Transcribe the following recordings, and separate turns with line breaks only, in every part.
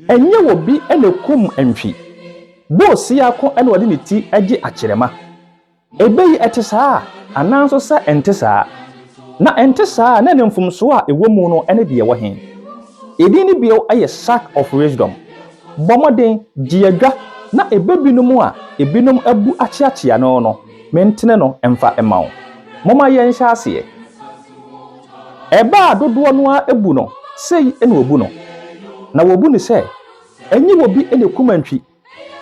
Ɛnyɛ obi na ɛkum ntwi. Bull siako na ɔde ne ti gye akyerɛma. Ɛbɛ yi ɛte saa anaa nso sɛ ɛnte saa? Na ɛnte saa a na ne mfomsoɔ a ɛwɔ mu no ne deɛ ɛwɔ he? Edin no bio yɛ Sack of Wisdom. Bɔ mmɔden, gye adwa na ɛbɛ binom a ɛbinom abu akyeakyea no no mentene no mfa mma wo. Momma yɛnhyɛ aseɛ. Ɛbaa dodoɔ no ara bu no, sei na wɔbu no. Na wɔbu no sɛ, ɛnyɛ obi na ɛkum antwi,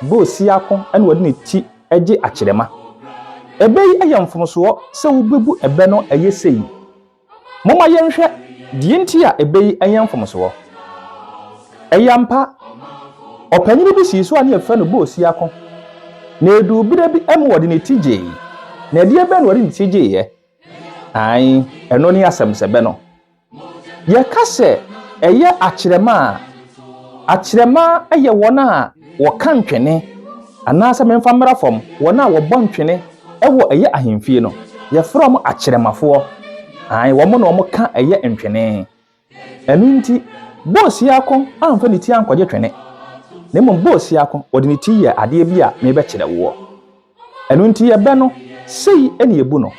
bɛ osiako na ɔde ne ti gye akyerɛma. Ɛbɛ yi yɛ mfomsoɔ sɛ wobɛbu ɛbɛ no ɛyɛ sei. Momma yɛnhwɛ deɛ nti a ɛbɛ yi yɛ mfomsoɔ. Ɛyɛ ampa, ɔpanyini bi sii so a na yɛfrɛ no bɛ osiako, na ɛduu berɛ bi ma ɔde ne ti gyee. Na ɛdeɛ bɛn na ɔde ne ti gyeeɛ? Aane, ɛno ne asɛmsɛbɛ no. Yɛka sɛ ɛyɛ akyerɛma a, akyerɛma yɛ wɔn a wɔka ntwene, anaasɛ memfa mmra fam, wɔn a wɔbɔ ntwene wɔ ɛyɛ ahemfie no, yɛfrɛ wɔn akyerɛmafoɔ. Aane, wɔn na wɔka ɛyɛ ntwene. Ɛno nti, Boasiako amfa ne ti ankɔgye twene, na mmom Boasiako, ɔde ne ti yɛɛ adeɛ bi a merebɛkyerɛ woɔ. Ɛno nti yɛbɛ no, sei na yɛbu no.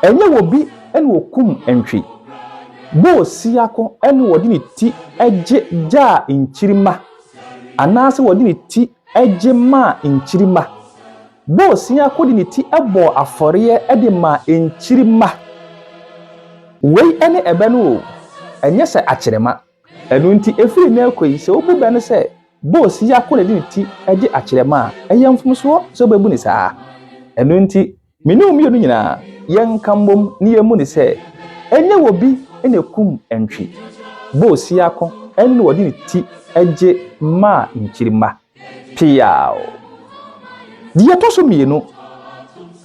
Ɛnyɛ wɔ bi na wɔkum ntwi. Boasiako na wɔde ne ti gye gyaa nkyirimma, anaasɛ wɔde ne ti gye maa nkyirimma. Bosea ko de ne ti bɔɔ afɔreɛ de maa nkyirimma. Wei ne ɛbɛ no oo, ɛnyɛ sɛ akyerɛma. Ɛno nti, ɛfiri nnɛ rekɔ yi, sɛ wobu bɛ no sɛ bosea ko na ɛde ne ti gye akyerɛma a, ɛyɛ mfomsoɔ sɛ wobɛbu no saa. Ɛno nti, me ne wo mmienu nyinaa, yɛnka mmom na yɛmmu no sɛ, ɛnyɛ obi na ɛkum ntwi. Bosea ko, ɛno na wɔde ne ti gye maa nkyirimma. Peaw. Deɛ ɛtɔ so mmienu,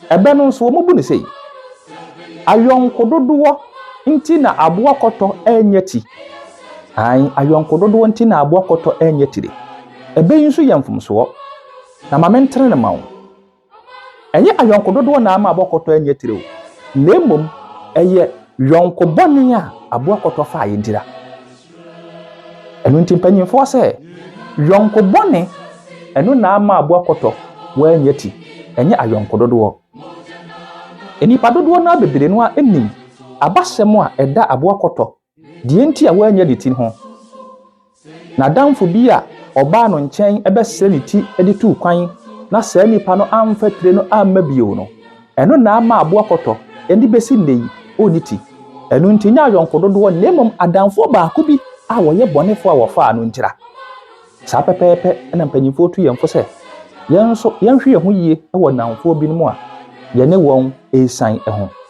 ɛbɛ no nso wɔbu no sei, Ayɔnko dodoɔ nti na aboa kɔtɔ ɛnyɛ ti. Ae, ayɔnko dodoɔ nti na aboa kɔtɔ ɛnyɛ tire. Ɛbɛ yi nso yɛ mfomsoɔ. Na ma mentene no ma wo. Ɛnyɛ ayɔnko dodoɔ na ama aboakɔtɔ anya tire o, na mmom ɛyɛ yɔnko bɔne a aboakɔtɔ faa yɛn tira. Ɛno nti mpanyinfoɔ sɛ, yɔnko bɔne ɛno na ama aboakɔtɔ wanya ti, ɛnyɛ ayɔnko dodoɔ. Nnipa dodoɔ no ara bebree no ara nim abasɛm a ɛda aboakɔtɔ Deɛ enti a wanyɛ ne ti ho. N'adamfo bi a ɔbaa no nkyɛn bɛsrɛ ne ti de tuu kwan na saa nipa no amfa tire no amma bio no, ɛno na ama aboa kɔtɔ de bɛsi nnɛ yi ɔnni ti. Ɛno nti nyɛ ayɔnko dodoɔ na mmom adamfoɔ baako bi a wɔyɛ bɔnefoɔ a wɔfaa no ntira. Saa pɛpɛɛpɛ na mpanimfoɔ tu yɛn fo sɛ yɛn nso yɛnhwɛ yɛn ho yie wɔ nnamfoɔ binom a yɛne wɔn resian ho.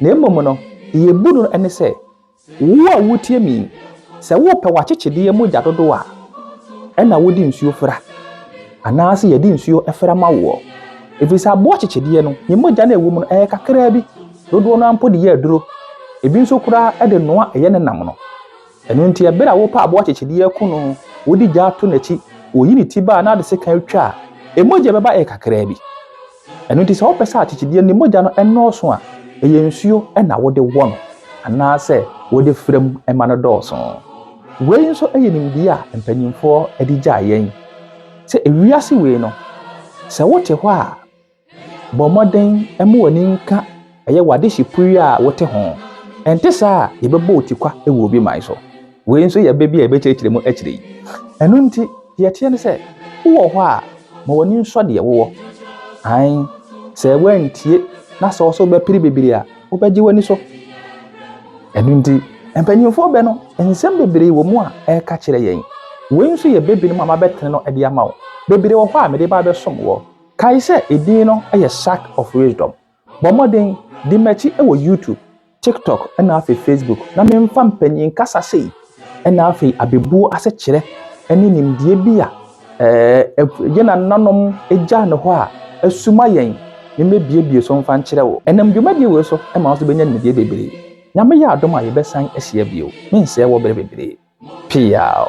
Na mmom no, deɛ ɛbu no ne sɛ, wo a woretie me yi, sɛ wopɛ w'akyekyedeɛ mogya dodoɔ a, ɛna wode nsuo fra, anaasɛ yɛde nsuo fra ma woɔ. Ɛfiri sɛ aboa kyekyedeɛ no, ne mogya no a ɛwɔ mu no, ɛyɛ kakraa bi, dodoɔ no ara mpo de yɛ aduro, ebi nso koraa de noa ɛyɛ ne nam no. Ɛno nti, ɛberɛ a wopɛ aboa kyekyedeɛ aku no, wode gya to n'akyi, woyi ne ti ba a na ade sekan atwa a, ɛmogya bɛba ɛyɛ kakraa bi. Ɛno nti, sɛ wopɛ sɛ akyekyedeɛ no mogya no nnɔɔso a, ɛyɛ nsuo na wode wɔ no anaasɛ wode fra mu ma no dɔɔso. Wei nso yɛ nimdeɛ a mpanimfoɔ de gyaa yɛn sɛ ewiase wei no, sɛ wote hɔ a, bɔ mmɔden ma w'ani nka Ɛyɛ w'adehye pue yi a wote ho. Ɛnte saa a, yɛbɛbɔ wo tikwa wɔ obi man so. Wei nso yɛ bɛ bi a yɛbɛkyerɛkyerɛ mu akyire yi. Ɛno nti, deɛ ɛteɛ ne sɛ, wowɔ hɔ a, ma w'ani nsɔ deɛ wowɔ. Ae, sɛ woantie na sɛ ɔsɛ wobɛpere bebree a, wobɛgye w'ani so. Ɛno nti, mpanyimfoɔ bɛ no, nsɛm bebree wɔ mu a ɛreka kyerɛ yɛn. Wei nso yɛ bɛ binom a mabɛtene no de ama wo. Bebree wɔ hɔ a mede ba abɛsom woɔ. Kae sɛ edin no yɛ Sack of Wisdom. Bɔ mmɔden, di m'akyi wɔ YouTube, TikTok na afei Facebook na memfa mpanyin kasa sei na afei abebuo asekyerɛ ne nimdeɛ bi a ɛɛ yɛn nananom gyaa no hɔ a asuma yɛn me mɛbiebie so mfa nkyerɛ wo. Ɛnam dwumadie wei so ɛma wo nso bɛnya nimdeɛ bebree. Nyame yɛ adom a yɛbɛsan ahyia bio. Mensɛɛ wɔ berɛ bebree. Peaw.